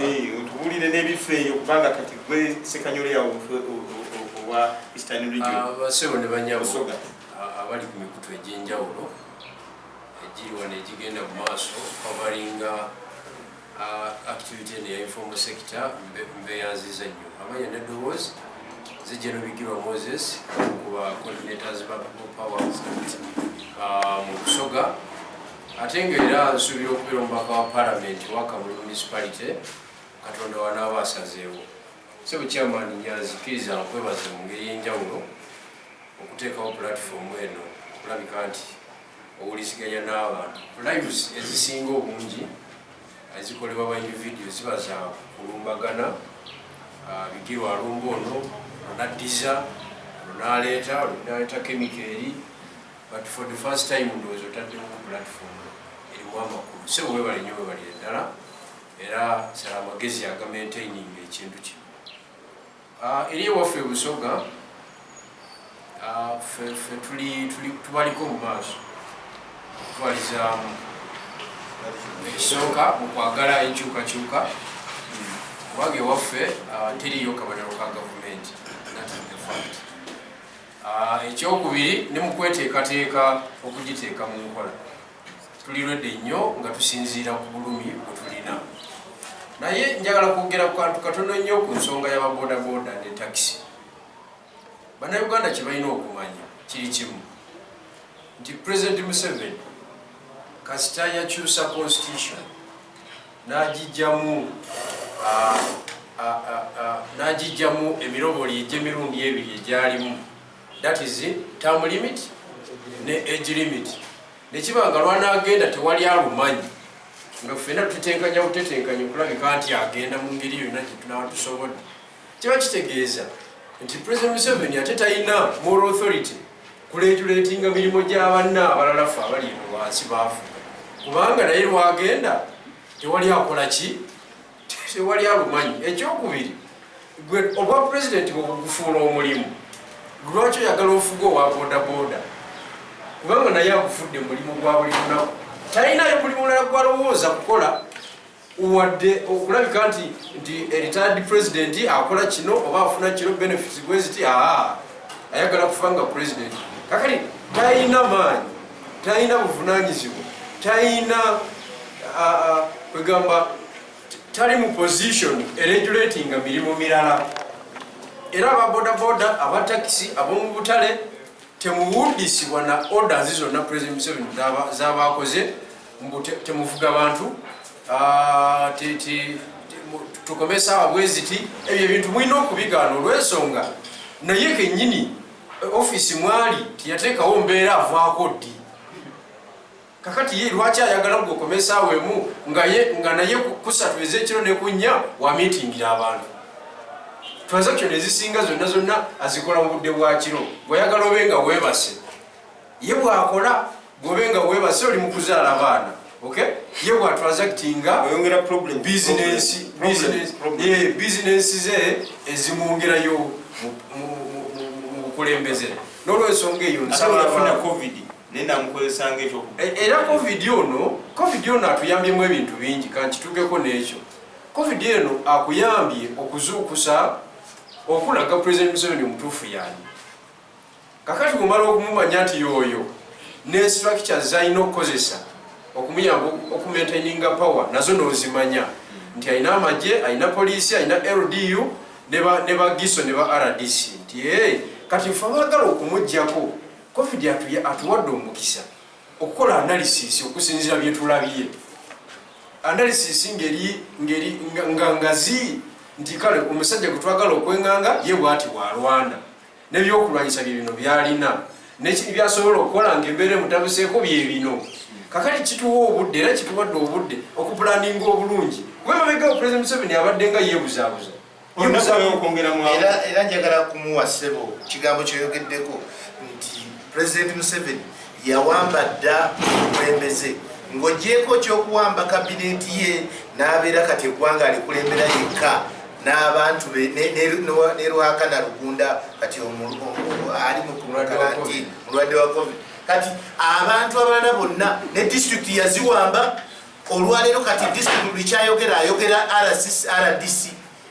otubulire n'ebifo eyo kubanga kati gwe sekanyole yawo owa eastern region ah, basebo ne banyabo ah, abali ku mikutu egy'enjawulo egiri wano egigenda mu maaso kavaringa ah, activity eno ya informal sector mbeyanziza nnyo amanya ne dowozi zijja nobigirwa moses kuba coordinators ba people powers mu busoga Ate nga era nsuubira okubeera omubaka wa palamenti owa Kamuli municipality Katonda wanaaba asazeewo. Ssebo Chairman Nyanzi kkiriza nkwebaze mu ngeri ey'enjawulo okuteekawo pulatifoomu eno okulabika nti owuliziganya n'abantu. Lives ezisinga obungi ezikolebwa ba individio ziba za kulumbagana, ah, bigirwa alumba ono, onaddiza, onaleeta, onaleeta kemiko eri, But for the first time ndowooza otaddemu ku platform erimu amakulu sebo webale nyo webalire ddala era sala amagezi aga maintaining ekintu ki ah, eri ewaffe ebusoga ah, fe tuli tubaliko mu maaso okutwalizaamu ekisooka mu kwagala enkyukakyuka kubanga ewaffe ah, teriyo kabonero ka gavumenti Ekyokubiri, ne mu kweteekateeka okugiteeka mu nkola tuli rwedde nnyo nga tusinziira ku bulumi bwe tulina. Naye njagala kwogera ku kantu katono nnyo ku nsonga y'ababodaboda ne takisi. Bannayuganda kye balina okumanya kiri kimu nti Pulezidenti Museveni kasita yakyusa constitution n'agijjamu n'agijjamu emiroboli egy'emirundi ebiri egyalimu that is term limit ne age limit nekiba nga lwanaagenda tewali alumanyi nga ffena tutetenkanya butetenkanya okulabika nti agenda mu ngeri yonna gyetunaba tusobodde Kiba kitegeeza nti President Museveni ate talina moral authority kuleetuleetinga mirimu gya banna abalala ffe abali eno wansi baafu kubanga naye lwagenda tewali akola ki tewali alumanyi ekyokubiri gwe obwa pulezidenti bwebugufuula omulimu lwaki oyagala ofuga owa bodaboda kubanga naye agufudde mulimu gwa buli lunaku talinayo buli mulala gwalowooza kukola wadde okulabika nti nti retired president akola kino oba afuna kino benefits bweziti aa ayagala kufa nga president kakati talina maanyi talina buvunanyizibwa talina kwegamba tali mu position eregulatinga mirimu mirala era ababodaboda abatakisi ab'omu butale temuwudisibwa na orders zonna president museveni zabakoze mbu temuvuga bantu ah, tukome esaawa bweziti ebyo ebintu mulina okubigaana olwensonga naye kenyini eh, ofiisi mwali teyateekawo mbeera avaako ddi kakati ye lwaki ayagala gukome esaawa emu nga naye kusatu ezekiro nekunnya wamitingira abantu transaction ezisinga zonna zonna azikola mu budde bwakiro bweyagala obe nga webase ye bwakola Gobe nga webase oli mukuzaala abaana okay ye bwa transactinga oyongera problem business business ye business ze ezimwongerayo mu bukulembeze n'olwensonga eyo nsaba afuna covid naye namukozesanga ekyo e, era covid ono covid ono atuyambyemu ebintu bingi kankitugeko n'ekyo covid eno akuyambye okuzuukusa okulaga president museveni omutuufu yaani Kakati bw'omala okumumanya nti y'oyo ne structures z'alina okukozesa okumuyamba okumaintaininga power nazo n'ozimanya nti alina amagye, alina poliisi, alina LDU ne ba ne ba GISO ne ba RDC nti ee eh, kati ffe abaagala okumuggyako covid atuye atuwadde omukisa okukola analysis okusinziira bye tulabye analysis ngeri ngeri nga ngazi nti kale omusajja gwe twagala okwenganga ye bwati bwalwana N'ebyokulwanyisa bye bino byalina n'ekibi byasobola okukola ng'embeera emutabuseeko bye bino. Kakati kituwa obudde era kituwadde obudde okupulaninga obulungi kuba emabegao Pulezidenti Museveni abadde nga yeebuzaabuza era njagala kumuwa ssebo kigambo kyoyogeddeko nti Pulezidenti Museveni Yawamba dda omukulembeze ng'ogyeko ky'okuwamba kabineeti ye n'abeera kati eggwanga alikulembera yekka n'abantu be ne Rwakana Rugunda kati ali mu kalantiini mulwadde wa covid kati abantu abalala bonna ne disitulikiti yaziwamba olwaleero kati disitulikiti buli kyayogera ayogera rdc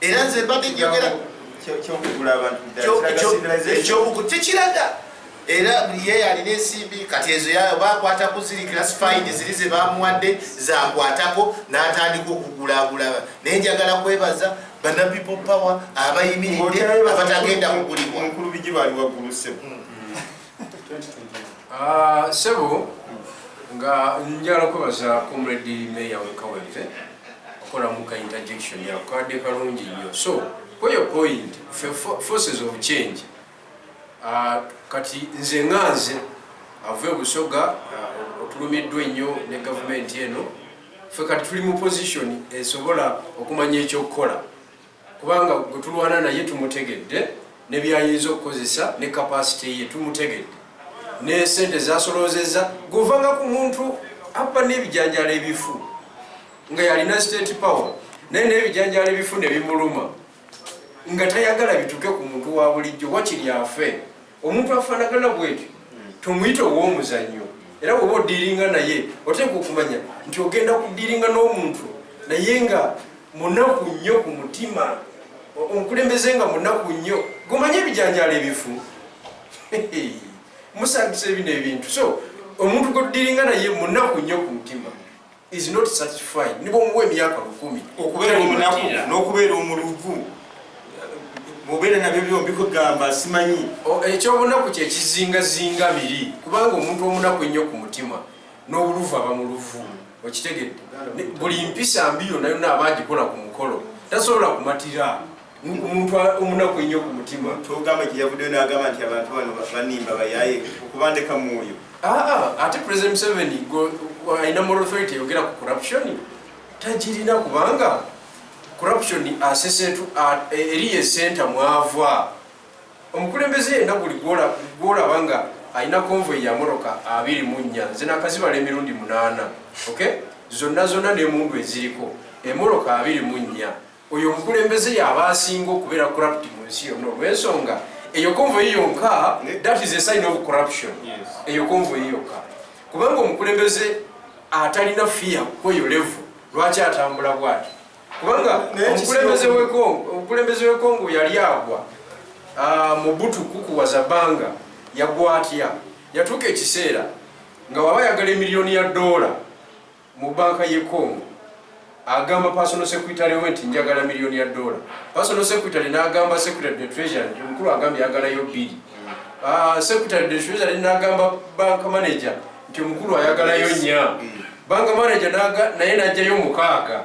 era nze mbadde njogera tekiraga era ye yalina ensimbi kati ezo yayo bakwata kuziri class fine ziri ze bamuwadde zakwatako n'atandika okugulagula naye njagala kwebaza bana people power abayimiridde abatagenda kugulibwa Ah, sebo nga njala kwebaza comrade mayor wekawempe okolamu ka interjection yakukadde kalungi nnyo so kweyo point forces of change ah, kati nze nga nze ava ebusoga ah, otulumiddwa ennyo ne gavumenti eno fe kati tuli mu position esobola okumanya ekyokukola kubanga gwe tulwana naye tumutegedde ne byayinza okukozesa ne kapasite ye tumutegedde ne sente zasoloozezza guvanga ku muntu abba n'ebijanjalo ebifu nga yalina state power naye n'ebijanjalo ebifu ne bimuluma nga tayagala bituke ku muntu wa bulijjo wakiri afe omuntu afanagana bwetyo tomuyita ow'omuzannyo era woba odiringa naye oteeka okumanya nti ogenda kudiringa n'omuntu naye nga munaku nnyo ku mutima omukulembeze nga munaku nnyo gomanye ebijanjalo ebifu musangisa ebino ebintu so omuntu godiringa naye munaku nnyo ku mutima is not satisfied nibo muwe emyaka lukumi okubeera omunaku n'okubeera omuluvu mubeera nabyo byombi kugamba simanyi ekyobunaku kyekizingazinga biri kubanga omuntu omunaku ennyo ku mutima n'obuluvu aba muluvu okitegedde buli mpisa mbi yona yona aba agikola ku mukolo tasobola kumatira omuntu omunaku ennyo ku mutima togamba nti yavuddeyo n'agamba nti abantu bano banimba bayaye okubandeka mu oyo aa ate president museveni alina moral authority eyogera ku corruption tagirina kubanga corruption asesetu eriyo esenta mwava omukulembeze yenna guli gwolaba nga alina konvoy ya moroka abiri mu nnya nze nakazibala emirundi munaana ok zonna zonna n'emundu eziriko emoroka abiri mu nnya Oyo omukulembeze yaba asinga okubera corrupt mu nsi yonna olwensonga eyo konvoyi yonka that is a sign of corruption eyo konvoyi yokka kubanga omukulembeze atalina fiya kweyo levu lwaki atambula bwati kubanga omukulembeze wekongo yali agwa ah, mubutu kukuwaza banga yagwa atya yatuuka ekiseera nga waba yagala emiliyoni ya doola mu banka ye Congo agamba personal secretary we nti njagala milioni ya dola personal secretary nagamba secretary the treasury nti omukulu agambye ayagalayo bbiri ah, secretary the treasury nagamba bank manager nti omukulu ayagalayo nya bank manager naye najjayo mukaaga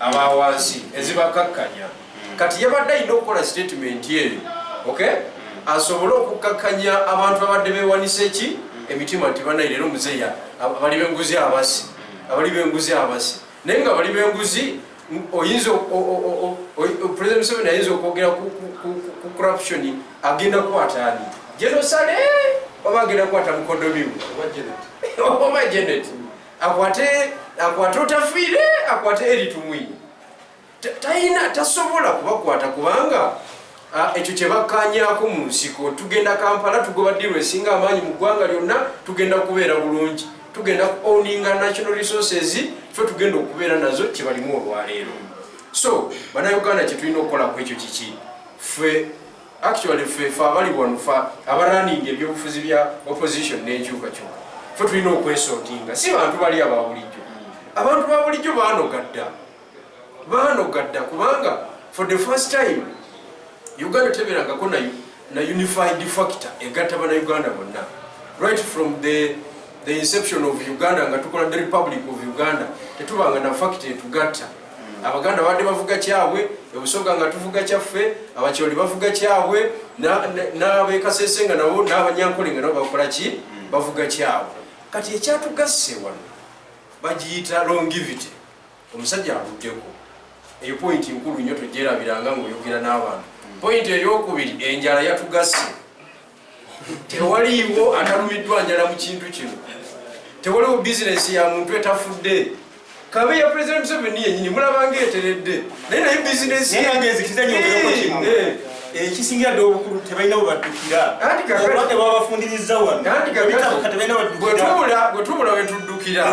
aba wansi ezibakakkanya kati yabadde alina okukola sitatimenti eyo ok asobole okukkakkanya abantu abadde bewanisa eki emitima nti banayi leero muzeeya abali benguzi abasi abali benguzi abasi naye nga bali benguzi oyinza president museveni ayinza okwogera ku corruption agenda kukwataani jenosale oba agenda kukwata mukodomimu oba janet akwate akwate otafiire akwate eri tumwini talina tasobola kubakwata kubanga ekyo kyebakkanyako mu nsiko tugenda kampala tugoba diru esinga amaanyi mu ggwanga lyonna tugenda kubeera bulungi tugenda ku owninga national resources fe tugenda okubeera nazo kyebalimu olwaleero so banauganda kyetulina okukola ku ekyo kiki fe Actually ffe ffe abali wano ffe abaraninga ebyobufuzi bya opposition n'enkyukakyuka ffe tulina okwesotinga si bantu bali ababulijjo abantu babulijjo banoga dda banoga dda kubanga for the first time uganda teberangako na, na unified factor egatta bana uganda bonna right from the, the inception of uganda nga tukola the republic of uganda tetubanga na factor etugatta abaganda babadde bavuga kyabwe ebusoga nga tuvuga kyaffe abakyoli bavuga kyabwe n'abekasese nga nabo n'abanyankole nga nabo bakola ki bavuga kyabwe kati ekyatugasse wano bagiyita longivity omusajja avuddeko eyo pointi nkulu nnyo togyerabiranga ngaoyogera n'abantu pointi eyokubiri enjala yatugasse tewaliiwo atalumiddwa njala mu kintu kino tewaliwo bizinesi ya muntu etafudde kabe ya president museveni yenyini mulabanga eteredde naye naye bizinesi ekisingira ddala obukulu tebalina webaddukira obulwadde bwabafundiriza wanobwetubula wetuddukira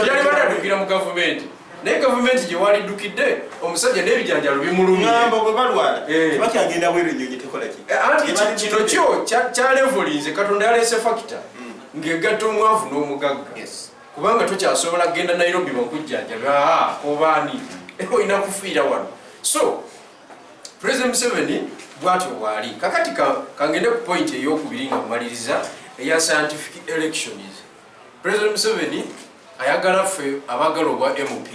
yali bataddukira mu gavumenti naye gavumenti gyewaliddukidde omusajja n'ebijanjalo bimulumyamba bwe balwala eh. tebakyagenda bweru ennyonyi tekolaki eh, anti kino kyo kyalevolinze katonda yaleese fakita hmm. ng'egatta omwavu n'omugagga kubanga tokyasobola kugenda nairobi bakujjanjabe ah, obaani olina kufiira wano so president museveni bwatyo bwali kakati kangende ku point eyokubiri nga mumaliriza eya scientific elections President Museveni ayagala ffe abagala obwa MP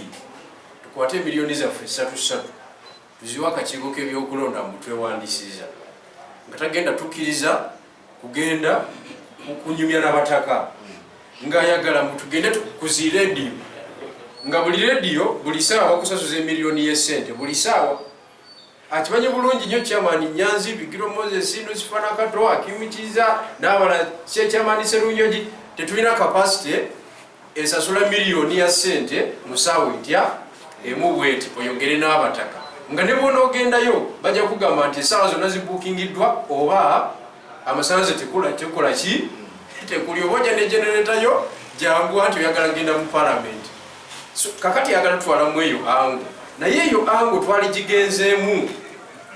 tukwate emiliyoni zaffe ssatu ssatu tuziwa akakiiko k'ebyokulonda mu twewandisiza nga tagenda tukkiriza kugenda kunyumya nabataka ng'ayagala mu tugende kuzi rediyo nga buli rediyo buli saawa kusasuza emiliyoni y'essente buli saawa akimanyi bulungi nyo chairman nyanzi bigiro moses nusifana kato akimikiza nabala se chairman serunyoji tetulina capacity esasula million ya sente musawo itya emu bweti oyogere n'abataka nga ne bwonogendayo bajja kugamba nti esawa zonna zibukingiddwa oba Amasanze tekula tekola ki tekuli oba oja ne generator yo jangu anti oyagala genda mu parliament so, kakati yagala twala mu eyo angu naye eyo angu twali gigenzemu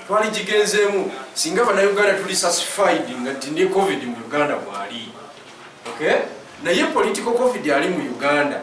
twali gigenzemu singa bana Uganda tuli satisfied nga tinde covid mu Uganda bwali okay naye political covid ali mu Uganda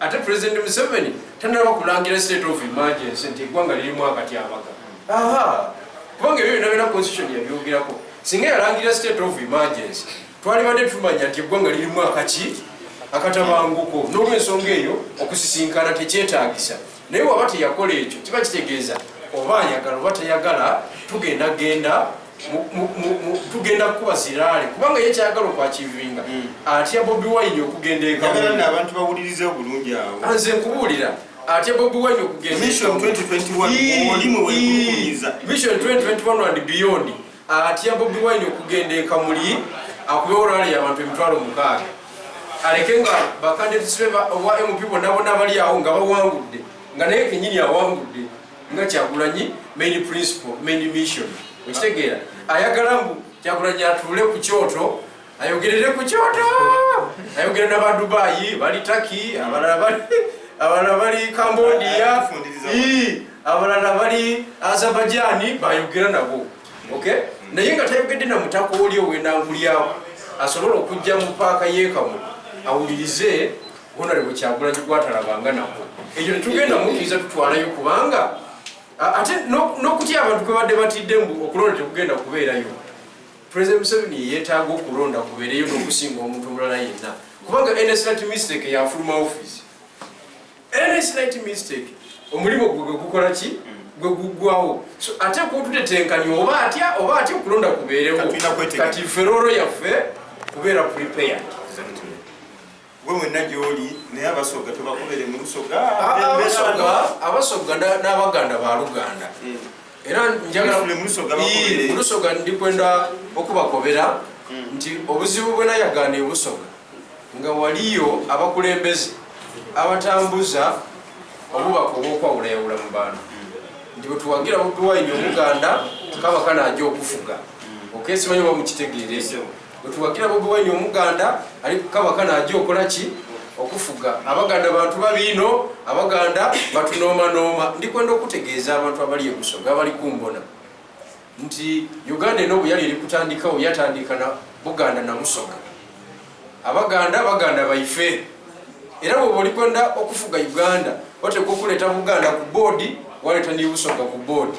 ate president museveni tanaba kulangira state of emergency nti egwanga lirimu akatyabaga kubanga ebyo byona byona constitution yabyogerako singa yalangira state of emergency twalibadde tumanya nti egwanga lirimu akaki akatabanguko nolwensonga eyo okusisinkana tekyetagisa naye waba teyakola ekyo kiba kitegeeza oba ayagala oba tayagala tugenda genda tugenda kukuba ziraale kubanga ye kyayagala okwakivinga hmm. atya bobi wine okugenda egabantu bawuliriza obulungi awo ah, nze nkubuulira atya bobi wine okugendavision 2021 and beyond atya bobi wine okugenda ekamuli akube orali yabantu emitwalo mukaaga aleke nga bakande tusibe owa mp bonna bonna bali awo nga bawangudde nga naye kenyini awangudde nga kyagulanyi main principle main mission okitegeera ayagala mbu kyagulanyi atuule ku kyoto ayogerere ku kyoto ayogera naba dubayi bali taki abalala bali abalala bali cambodia abalala bali azabajani bayogera nabo okay mm. naye nga tayogedde na mutaka oli owenangulyawo asobola okujja mu paaka yekamu awulirize honore bwekyagula kigwatalabanga nako ekyo tetugenda mukiriza tutwalayo kubanga ate nokutya abantu kwebadde batidde mbu okulonda tekugenda kubeerayo President Museveni yeyeetaaga okulonda kubeereyo n'okusinga omuntu omulala yenna kubanga nsnat mistake yafuluma office nsnat mistake omulimu gwe gwe gukola ki gwe guggwawo so ate kututetenkanya oba atya oba atya okulonda kubeerewo kati feroolo yaffe kubeera prepared Gwe wenna gy'oli naye Abasoga tubakubere mu Lusoga. Abasoga n'Abaganda ba Luganda hmm. era njagala mu Lusoga ndi kwenda okubakobera hmm. nti obuzibu bwe nayagaana ebusoga nga waliyo abakulembeze abatambuza obubaka obwokwawulayawula mu bantu hmm. nti bwetuwagira bobiwayini omuganda kaba kanaaja okufuga okesimanyibamukitegeere Wetuwagira Bobi Wine omuganda ali kukabaka naja okola ki okufuga abaganda bantu babiino abaganda batunoomanooma ndikwenda okutegeeza abantu abali ebusoga abali kumbona nti uganda eno obuyali eri kutandikawo yatandika na buganda namusoga abaganda baganda baife era bwoba olikwenda okufuga uganda oteeka okuleeta buganda ku boodi waleeta nebusoga ku boodi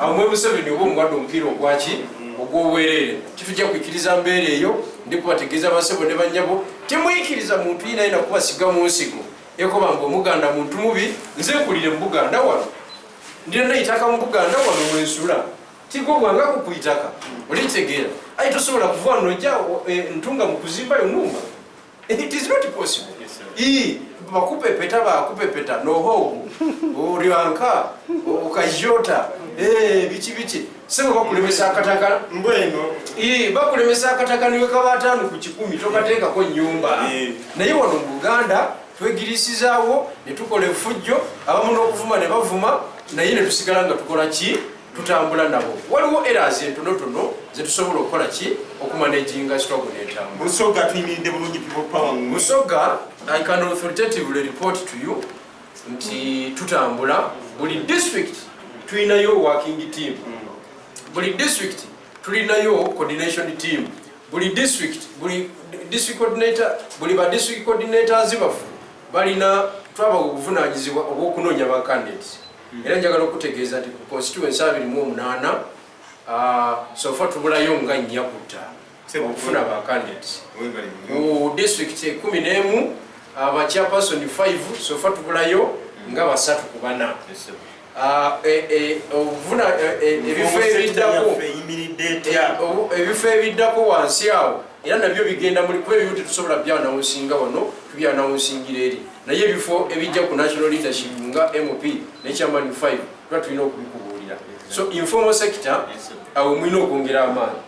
awo mwe museveni oba omuwadde omupiira ogwaki ogwobwereere titujja kwikiriza mbeera eyo ndi kubategeeza basebo ne banyabo temuyikiriza muntu yina yina kubasiga mu nsigo ekoba nga omuganda muntu mubi nze nkulire mu buganda wano ndina nayitaka mu buganda wano mwensula tiga obwanga kukuyitaka olikitegeera aye tosobola kuva wano nojja e, ntunga mu kuzimbayo numba It is not possible. Yes, sir. Ii, bakupepeta bakupepeta nohogu olyanka okajota eh, biki biki sebo bakulemesa akatakala mbweno Ii, bakulemesa akataka niwe kaba ataano ku kikumi tokateekako nnyumba Eh. naye wano mu buganda twegirisizaawo ne tukola efujjo abamu n'okuvuma ne bavuma naye ne tusigala nga tukola ki tutambula nabo waliwo eras entonotono zetusobola okukola ki okumanejinga sitogo netambulabusoga tuyimiridde bulungi busoga i can authoritatively report to you nti tutambula buli district tulinayo working team buli district tulinayo coordination team buli district buli district coordinator buli ba district coordinators bafu balina twaba obuvunanyizibwa obwokunoonya ba candidates era njagala okutegeeza nti ku constituency abiri mu omunaana sofa tubulayo nga nnya ku ttaano okufuna ba candidates ku district ekumi n'emu abakyapasoni 5 sofa tubulayo nga basatu ku bana Ah, eh, eh, obuvuna eh, ebifo ebiddako ebifo ebiddako wansi awo era nabyo bigenda muli kuba ebimu tetusobola byanawunsinga wano tubyanawunsingira eri naye ebifo ebijja ku national leadership nga mp ne chairman 5 tuba tulina okubikubuulira so informal sector awo mulina okwongera amaanyi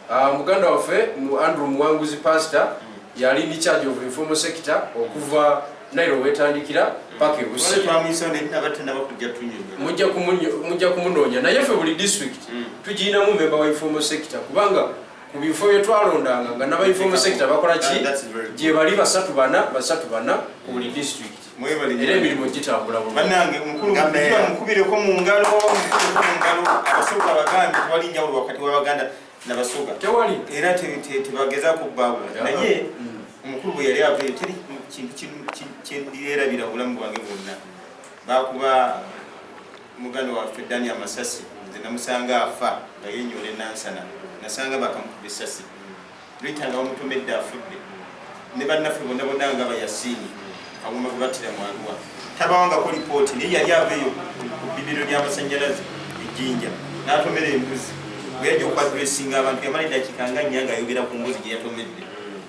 ah, muganda waffe mu andrew muwanguzi pastor yali ni charge of informal sector okuva nairo wetandikira paka ebusi mujja kumunoonya naye ffe buli district mm. tugirinamu memba wa informal sector kubanga mu bifo bye twalondanga nga nabainfomal sector bakola ki gye bali basatu bana basatu bana ku buli district era emirimu gitambula bulungi mukubireko mu ngalo mukubireko mu ngalo abasoga abaganda tewali njawulo wakati w'abaganda nabasoga tewali era tebageza kubbabula naye mm. omukulu bwe yali avayo teri kintu kyendirabira bulamu bwange bwonna bakuba Muganda waffe Dani amasasi nze namusanga afa nga yenyoola enansana nasanga bakamukuba essasi Rita nga bamutomedde afudde ne bannaffe bonna bonna nga bayasiini kawuma gwe battira mu Arua tabawangako lipooti naye yali ava eyo ku bbibiro ly'amasannyalaze ejjinja n'atomera embuzi bwe yajja okwadressinga abantu yamala eddakiika nga nnya ng'ayogera ku mbuzi gye yatomedde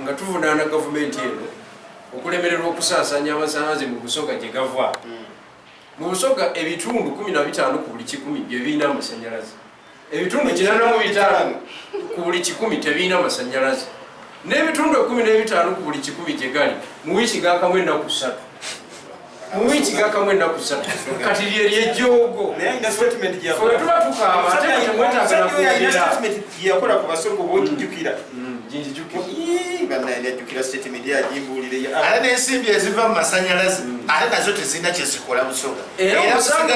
nga tuvunaana gavumenti eno okulemererwa okusaasanya amasanyalaze mu busoga gye gava hmm. mu busoga ebitundu 15 ku buli kikumi bye birina amasanyalaze ebitundu kinana mu bitaano ku buli kikumi tebirina amasanyalaze n'ebitundu ekumi n'ebitaano ku buli kikumi gye gali mu wiiki gaakamu ennaku ssatu mu wiiki gakamu ennaku ssatu kati lye lyejjoogo tuba tukaabaayakola ku basongo bojjukira nensimbi eziva mu masanyalaze mm. ate nazo tezirina kyezikola busonga era omusango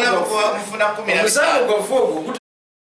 gwavu ogwo